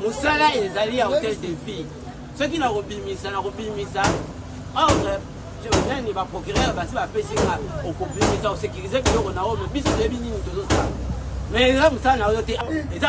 mosala ezali ya hotel de ville soki nakobimisa nakobimisa ordre nani baprocureur basi bapesi nga okobimisa osekirize biloko na oyo me biso toyebi nini tozosala me eza mosala na oyo te eza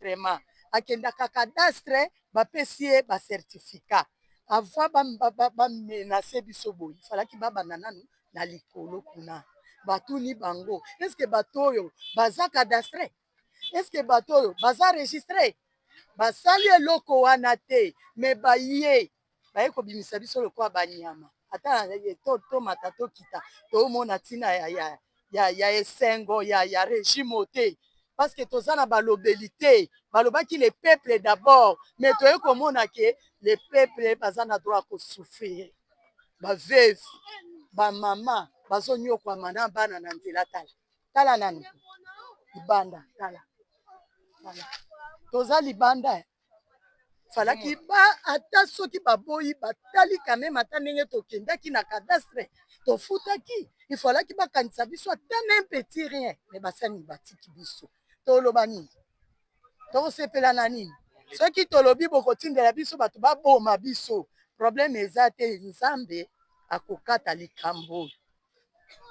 vraiment akendaka cadastre bapesi ye bacertificat avant bamenase ba, ba biso boye falaki babanda nanu na likolo kuna batuni bango eske bato oyo baza cadastre eske bato oyo baza registre basali eloko wana te me baye baye kobimisa biso lokola banyama ata tomata tokita tomona ntina ya, ya, ya, ya esengo ya, ya regime oyo te parceke toza na balobeli te balobaki le peuple d'abord me toye komona ke le peuple baza na droit ya kosouffrir baveve bamama bazonyokwama na bana na nzela tala tala nanu libanda tala tala toza libanda eh. falaki hmm. ba ata soki baboyi batali kameme ata ndenge tokendaki na cadastre tofutaki ifalaki bakanisa biso ata na mpeti rien me basani batiki biso toloba nini tokosepela na nini soki tolobi bokotindela biso bato baboma biso probleme eza te nzambe akokata likambo oyo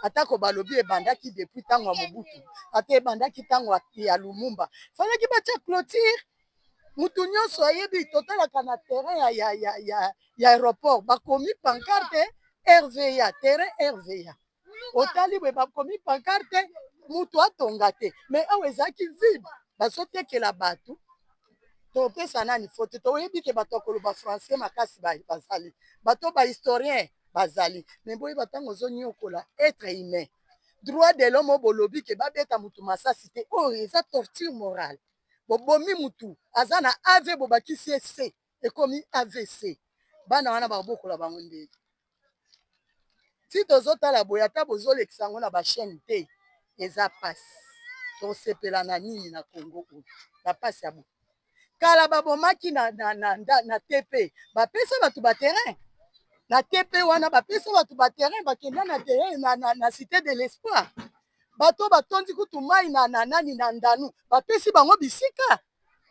atako balobi ebandaki depuis ntango ya mobutu ata ebandaki ntango ya lumumba falaki batya clotire motu nyonso ayebi totalaka na terrain ya, ya, ya, ya, ya aéroport bakomi pancarte rva terrain rva otali boye bakomi pancarte motu atonga te mais awa ezalaki vide bazotekela bato topesa nani faute toyebi ke bato ya koloba français makasi bazali bato ba historien bazali me boyeba ntango ozoniokola etre humain droit de l'homme oyo bolobi ke babeta motu masasi te oyo oh, eza torture morale bobomi motu aza na av bobakisi ese ekomi avc bana wana bakobokola bango ndenge ti tozotala boye ata bozolekisa yango na bachaine te eza mpasi tosepela na nini na congo oyo na mpasi ya boye kala babomaki na, na, na, na, na tp bapesa bato baterrain na tp wana bapesa bato baterrain bakenda na terrain na, na, na cité de l'espoir bato batondi kutu mai na, na nani na ndanu bapesi bango bisika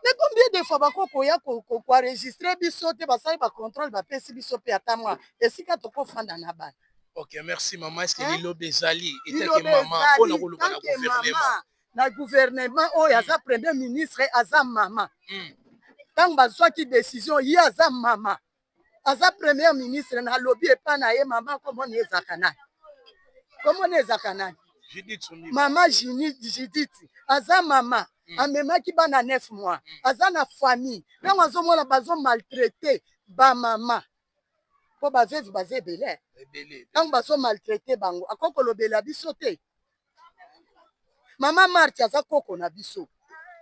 Mais combien de fois bako koya ko ko ko enregistrer biso te basali ba controle ba pesi biso pe ata mwa esika toko fanda na bana. Ok merci maman est ce que hein? liloba ezali etant que maman pona koloba na gouvernement na gouvernement oyo aza mm. premier ministre aza mama mm. ntango bazwaki decision ye aza mama aza premier ministre na lobi epa na ye mama kombo na ezaka nani kombo na ezaka nani mama judith aza mama mm. amemaki bana neuf mois mm. aza na famille ntango mm. azomona bazo maltraite bamama mpo baveve baza ebele ntango bazo maltraite bango akoki kolobela biso te mama marti aza koko na biso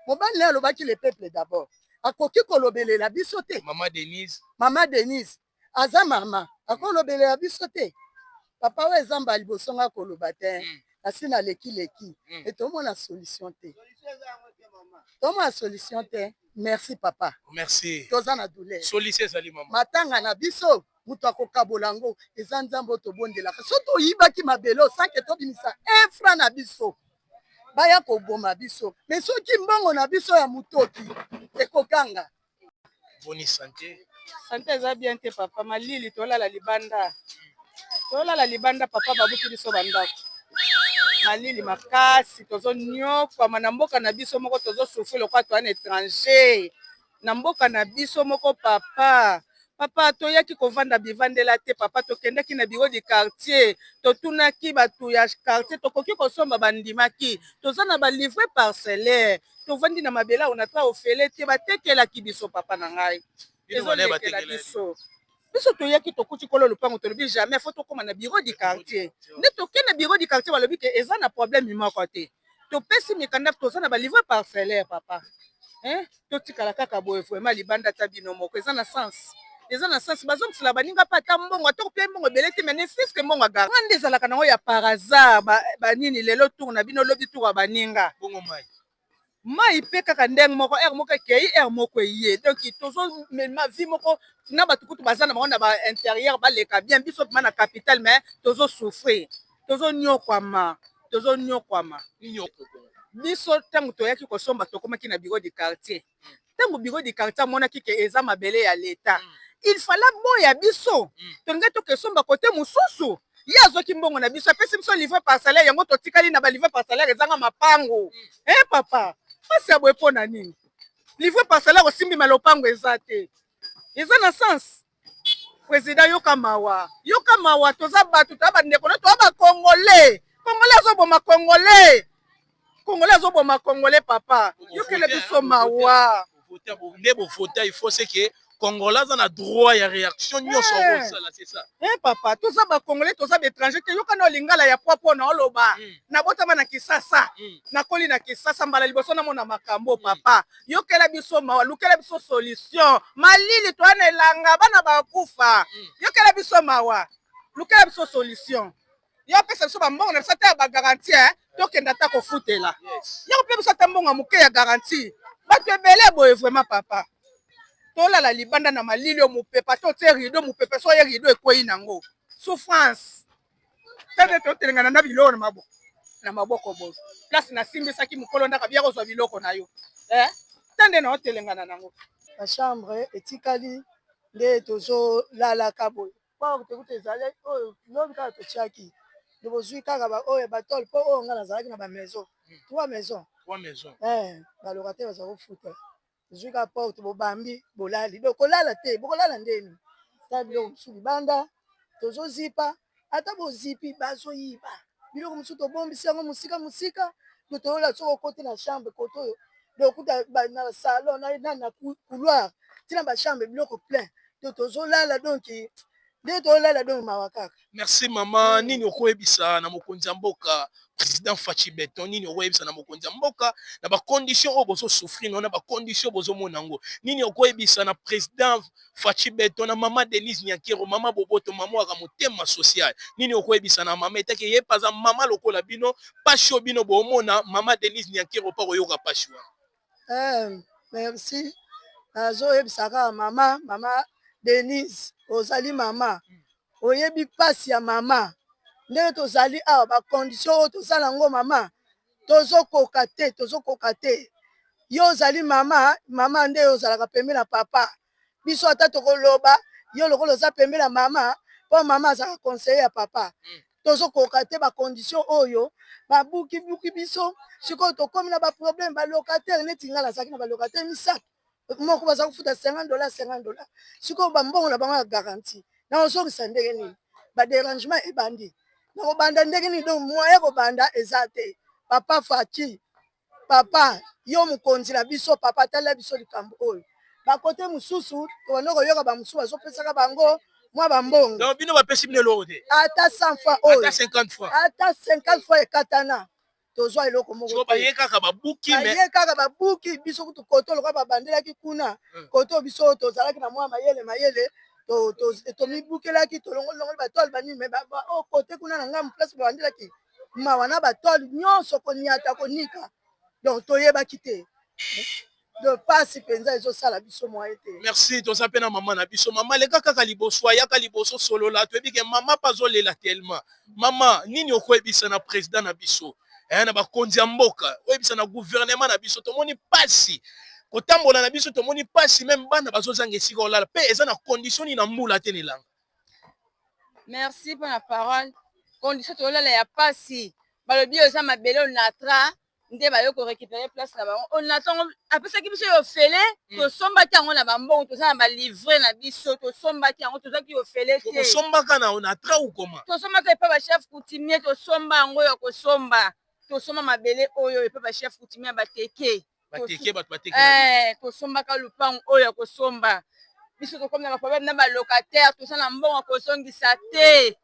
mobali naye alobaki le peuple d'abord akoki kolobelela biso te mama denise mama denise aza mama akolobelela biso te papa oyo eza mbala liboso nga koloba te mm. asi naleki leki mm. e tomona solution te tomona solution te merci papa merci toza na douleur solution ezali mama matanga na biso moto akokabola yango eza nzambe oyo tobondelaka so toyibaki mabele oyo sanke tobimisa efra na biso baya koboma biso me soki mbongo na biso ya motoki ekoganga boni sante sante eza bien te papa malili tolala libanda tolala libanda papa babuki biso bandako malili makasi tozoniokwama na mboka na biso moko tozosufri lokola toya na étranger na mboka na biso moko papa papa toyaki kovanda bivandela te papa tokendaki na biro du quartier totunaki bato ya quartier tokoki kosomba bandimaki toza na balivre parcellaire tovandi na mabele awo na ta ofele te batekelaki biso papa na ngai ezolekela biso biso toyaki tokuti kolo lopango tolobi jamais fo tokóma na bureau du quartier nde toke na bureau du quartier balobi ke eza na problème moko te topesi mikanda toza na balivre parcellaire papa hein totikala kaka boye vraiment libanda ata bino moko eza na sens eza na sens bazongisela baninga mpe ata mbongo ata kopia mbongo ebele te mais ne fils que mbongo agara nde ezalaka nango ya par hasard banini lelo tour na bino lobi tour ya baninga mai mpe kaka ndenge moko heure moko ekei heure moko eye donc tozomema vie moko na bato kutu baza na bango na ba interieur baleka bien biso mpema na capital mais tozosouffrir tozonyokwama tozonyokwama biso ntango toyaki kosomba tokomaki na bureau du quartier ntango biro di quartier amonaki ke eza mabele ya leta mm. il fala boya biso mm. tolinga tokesomba kote mosusu ye azwaki mbongo na biso apesi biso livre par salaire yango totikali na balivre par salaire ezanga mapango mm. e eh, papa mpasi ya boye mpo na nini livre par salaire osimbima lopango eza te eza na sens President yoka mawa, yoka mawa, toza batu, toza bandeko na toza ba congolais. Congolais azoboma congolais, congolais azoboma congolais. Papa yokela biso mawa. Nde bovota il faut c'est que congolais aza na droit ya réaction nyonso eh. akosala c'est ça eh papa toza ba congolais toza ba étranger te yoka na lingala ya pwa mpo na oloba hmm. nabotama na kisasa hmm. nakoli na kisasa mbala liboso namona makambo hmm. papa yokela biso mawa lukela biso solution malili toya na elanga bana bakufa mm. yokela biso mawa lukela biso solution yo pesa biso bambongo na biso ata ya bagaranti eh? tokenda ata kofutela yo kope biso ata mbongo ya moke ya garanti bato ebele boye vraiment papa tolala libanda na malili oyo mopepa to tie rido mopepa so ye rido ekwei nango souffrance tete totelengana na biloko na maboko na maboko boye place nasimbisaki mokolo ndaka biya kozwa biloko na yo eh? te nde na otelengana nango na chambre etikali nde tozolalaka boye pao tekuta ezali oyo lobi kaka totiaki nde bozwi kaka baoyo ya batole mpo oyo ngai nazalaki na bamaison trois maison eh, balokate bazali kofuta zwi ka porte bobambi bolali donc kolala te bokolala ndeni ta biloko mosusu libanda tozozipa ata bozipi bazoyiba biloko mosusu tobombisi yango mosika mosika to toyola soki okoti na chambre kote oyo dokuta na salon na na couloir ntina bachambre biloko plein to tozolala donki nde tolala donk mawa kaka merci mama hmm. nini okoyebisa na mokonzi ya mboka président faci beton nini okoyebisa na mokonzi ya mboka na bacondition oyo bozosouffrir no na bacondition bozomona yango nini okoyebisa na président faci beton na mama denise nyakero mama boboto mama waka motema social nini okoyebisa na mama etaki ye mpe aza mama lokola bino mpasi oyo bino bomona mama denise nyakero mpe akoyoka mpasi wana Eh, merci nazoyebisa kaka mama mama denise ozali mama oyebi mpasi ya mama ndenge tozali awa bacondition oyo toza na yango mama tozokoka te tozokoka te yo ozali mama mama nde ozalaka pembe na papa biso ata tokoloba yo lokola oza pembe na mama mpo mama azalaka conseiller ya papa mm. tozokoka te bacondition oyo babukibuki biso sikoyo tokomi na baproblème balocataire neti ngai nazalaki na balocataire misato moko baza kofuta 50 dollars 50 dollars sikoyo bambongo na bango ya garantie na ozongisa ndenge nini baderangement ebandi nakobanda ndenge nini donc moyen kobanda eza te papa fati Papa yo mokonzi na biso papa talela biso likambo oyo bakote mosusu tobanda koyoka bamosusu bazopesaka bango mwa bambongo bino bapesi bino eloko te ata 100 fois oyo ata 50 fois ekatana tozwa eloko mokobaye kaka babuki baye kaka babuki biso kutu koto lokola babandelaki kuna hmm. koto biso tozalaki na mwa mayele mayele tomibukelaki tolongoli longoli batole banini me okote oh, kuna na ngambo place babandelaki mawa na batole nyonso koniata konika donc toyebaki te de pasi mpenza ezosala biso moye te merci toza mpe na mama na biso mama leka kaka liboso ayaka liboso solola toyebi ke mama mpe azolela telema mama nini okoyebisa na president na biso eh, na bakonzi ya mboka oyebisa na guvernema na biso tomoni pasi kotambola na biso tomoni pasi meme bana bazozanga esika olala mpe eza na kondisioni na mbula te na elanga merci mpo na parole condition tolala ya pasi balobi oyo eza mabele onatra nde bayo korecupere place na bango onatango apesaki biso yo ofele mm. tosombaki yango na bambongo toza na balivre na biso tosombaki yango tozaki ofele teosombaka na onatra ukoma tosombaka epa bachef coutumier tosomba yango ya kosomba tosomba mabele oyo epa bachef coutumier bateke eh, tosombaka lupangu oyo ya kosomba biso tokomi na baproblème na balocataire toza na mbongo ya kozongisa te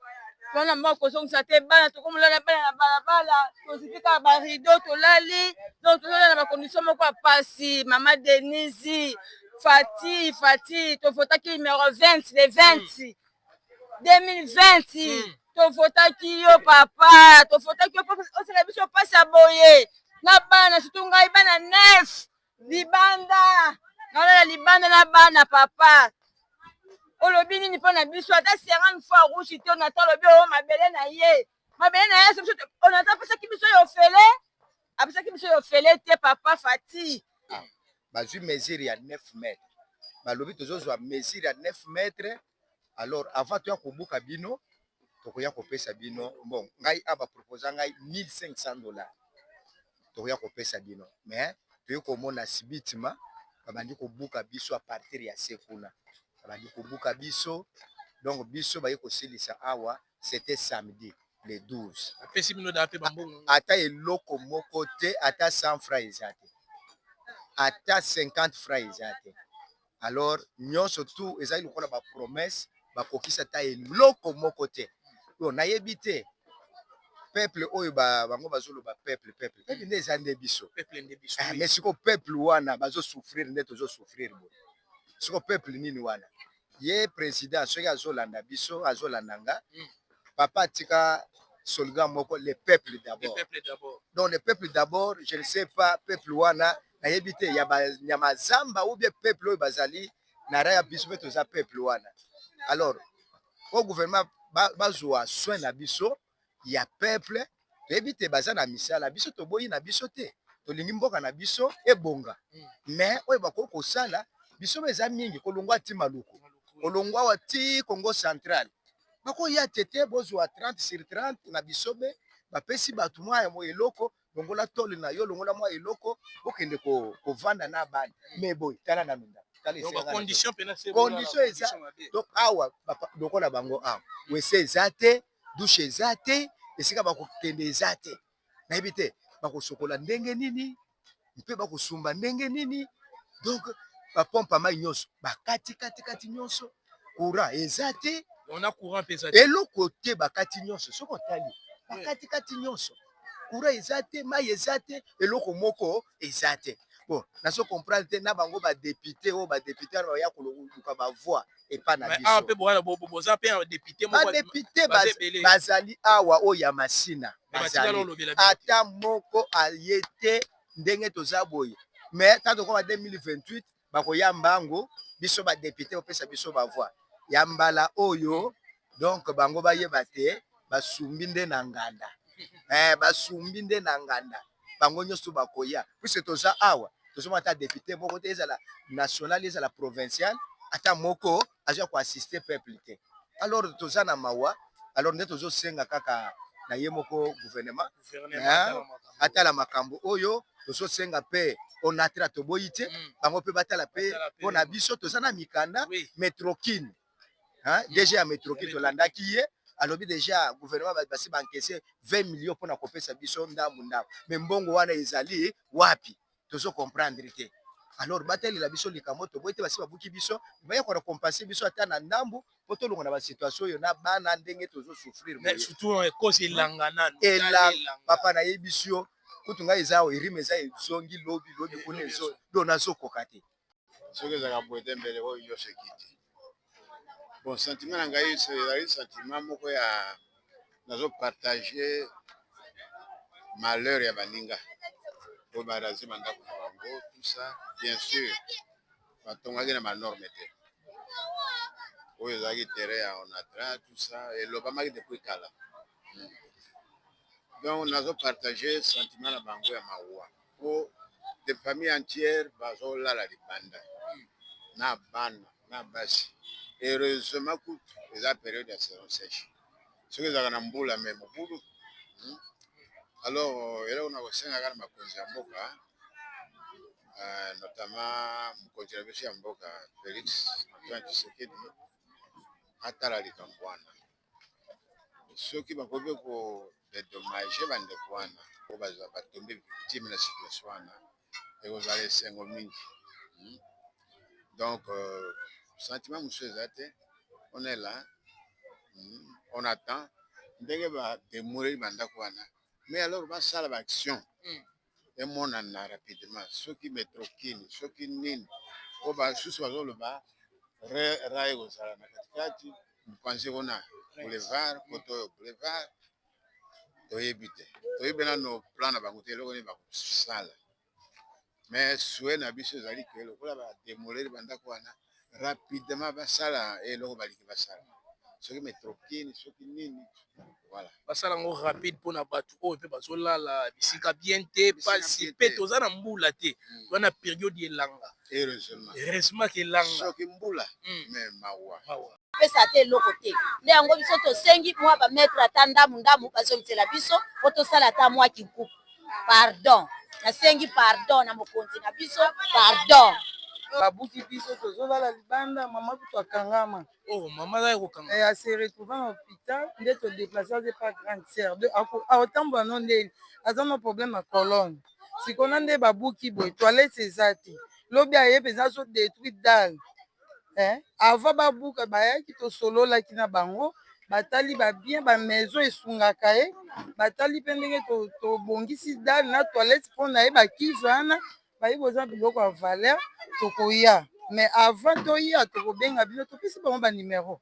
toza na mbongo ya kozongisa te bana tokomolala bana na balabala tozipi kaka barido tolali donc tozolala na bacondition moko ya pasi mama denise fati fati tovotaki numero 20 le 20 mm. 2020 tofotaki yo papa tofotaki yo osala biso mpasi ya boye na bana situ ngai bana nef libanda nalala libanda na bana papa olobi nini mpo na biso ata serane fois rouge te onata olobi oyo mabele na ye mabele na ye onata apesaki biso yo ofele Abisaki biso yo fele te papa Fati. Ah, bazui mesure ya 9 mètres. Balobi tozozwa mesure ya 9 mètres. Alors avant toya kobuka bino tokoya kopesa bino bon ngai aba proposa ngai 1500 dollars tokoya kopesa bino mais toyei komona sibitima babandi kobuka biso a partir ya se kuna babandi kobuka biso donc biso baye kosilisa awa c'etait samedi le 12 apesi bino date ba mbongo yango ata eloko moko te ata 100 francs eza te ata 50 francs eza te alors nyonso tout ezali lokola ba promesse bakokisa ata eloko moko te yo nayebi te peuple oyo ba, bango bazoloba peuple peuple peuple nde eza nde biso peuple nde biso Ah, mais siko peuple wana bazo souffrir nde tozo souffrir boye siko peuple nini wana ye president soki azolanda biso azolanda nga mm. papa atika slogan moko le peuple d'abord donc le peuple d'abord je ne sais pas peuple wana nayebi te ya banyama zamba ou bien peuple oyo bazali na raya biso mpe toza peuple wana alors au gouvernement bazwa ba soin na biso ya peuple toyebi te baza na misala biso toboyi na biso te tolingi mboka na biso ebonga mais oyo bakoki kosala biso eza mingi kolongwa ti maluku kolongwa wa ti congo central bakoya tete bozwa 30 sur 30 na bisobe bapesi bato mwa ya eloko longola tole na yo longola mwa eloko okende kovanda na bana me boye tala na minda condition eza donc awa lokola bango awa wese eza te dushe eza te esika bakokende eza te nayebi te bakosokola ndenge nini mpe bakosumba ndenge nini donc bapompe mai nyonso bakati katikati nyonso courant eza te on a courant pesa eloko te bakati nyonso soki otali bakati kati nyonso courant eza te mai eza te eloko moko eza te bon nazo comprendre te na bango badepute oyo badepute wana baya koluka bavoi epai na bisodepute bazali awa oyo ya masina bazali ata moko aye te ndenge toza boye mais ntango tokoma 2028 bako ya mbangu biso ba depute opesa biso ba voix ya mbala oyo donc bango bayeba te basumbi nde na nganda eh, basumbi nde na nganda bango nyonso bakoya puisque toza awa tozomona ata depute moko te ezala national ezala provincial ata moko aza ko assister peuple te alors toza na mawa alors nde tozo senga kaka na ye moko gouvernement atala makambo oyo tozo senga pe onatra toboyi te mm. bango pe batala pe mpo na biso toza na mikanda metrokine mm. dg ya metrokine tolandaki ye alobi deja gouvernement basi bankese 20 million mpo na kopesa biso ndambu ndambu me mbongo wana ezali wapi tozo comprendre te alors batalela biso likambo toboyi te basi babuki biso bayaka na compense biso ata na ndambu po tolonga na basituation oyo na bana ndenge tozo souffrir papa nayebisi yo kutu ngai eza erime eza ezongi lobi lobi kuna ezo do nazokoka te soki ezalaka boye te mbele oyo nyonso ekiti. Bon sentiment na ngai ezali sentiment moko ya nazo partage malheur ya baninga oyo ba raser ba ndako na bango tout ça bien sur batongaki na ba norme te oyo ezalaki terrain ya onatra tout ça elobamaki depuis kala donc nazo partage sentiment na bango ya mawa. po de famille entière bazo lala libanda na bana na basi heureusement kutu eza periode ya saison sèche soki ezalaka na mbula mais mobulu hmm. alors euh, eloko na kosengaka na makonzi ya mboka euh, notamment mokonzi na biso ya mboka Felix Antoine Tshisekedi atala likambo wana soki bakoki ko dedommage ba ndeko wana po bazala ba tombe victime na situation wana ekozala esengo mingi hmm? donc euh, sentiment mosusu eza te on est là hmm? on attend ndenge ba demoleli ba ndako wana mais alors basala ba action hmm. emonana rapidement soki metro kin soki nini po basusu bazoloba rail ekozala na katikati mopanzi kuna boulevard koto oyo boulevard toyebi te toyebi mpe nano plan na bango te eloko nini bakosala mais souhait na biso ezali ke lokola ba demolir bandako wana rapidement basala eloko balingi basala soki metrokin soki nini voilà basala yango rapide mpona bato oyo mpe bazolala bisika bien te pasi mpe toza na mbula te hmm. toza na periode elanga heureusement heureusement ke elanga soki mbula hmm. mais mawa pesa ata eloko te nde yango biso tosengi mwa ba mètre ata ndamu ndamu bazongisela biso po tosala ata mwa kinkuku pardon nasengi pardon na mokonzi na biso pardon babuki biso tozolala libanda mama kutu akangama oh, mama azali kokanga eh, ase retrouva na hôpital nde todeplace aze pa grande sœur de aotambola no ndeni aza na problème ya colonne sikona nde babuki boye toilette eza te lobi aye mpenza azodétruit dale eh, avant babuka bayaki tosololaki na bango batali babien bamaison esungaka ye batali mpe ndenge tobongisi to dale na toilette mpo na ye bakize wana bayi boza biloko ya valeur tokoya mais avant toya tokobenga bino topesi bango banimero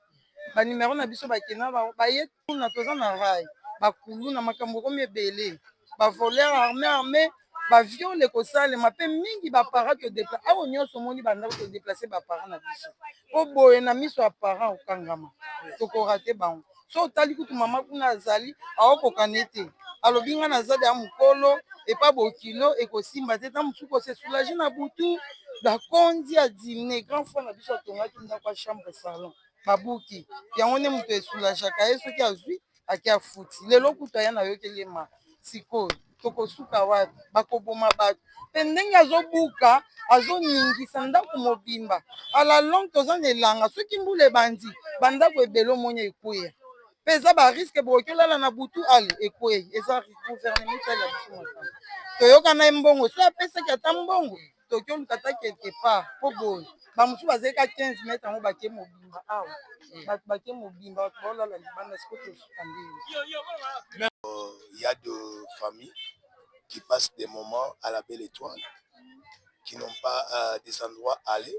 banimero na biso bakenda baye kuna toza na rai bakulu na makambo ekomi ebele bavoler arme arme baviole ekosalema mpe mingi baparent todepla awa nyonso omoni bandako todeplace baparent na biso mpo boye na miso ya parent okangama tokorate bango so otali kutu mama kuna azali aokokana ete alobi ngai naza deya mokolo epa bokilo ekosimba te ntango mosuku ose soulage na butu bakonzi ya dimne grand frère na biso atongaki ndako ya chambre salon babuki yango nde moto esulajaka ye soki azwi ake afuti lelo kutu aya nayokeli ye maka sikoyo tokosuka wapi bakoboma bato mpe ndenge azobuka azoningisa ndako mobimba ala longue toza na elanga soki mbula ebandi bandako ebele omoni ekweya mpe eza bariske bokoki olala na butu ale ekwei eza gouvernement ya biso makambo toyokana ye mbongo so apesaki ata mbongo toki oluka ata quelque part mpo boye bamosusu bazali ka 15 mètre yango bake mobimba awa hmm. bato bake mobimba bato baolala libanda siko tosuka ndenge euh, ya de famille qui passe des moments à la belle étoile qui n'ont pas euh, des endroits aller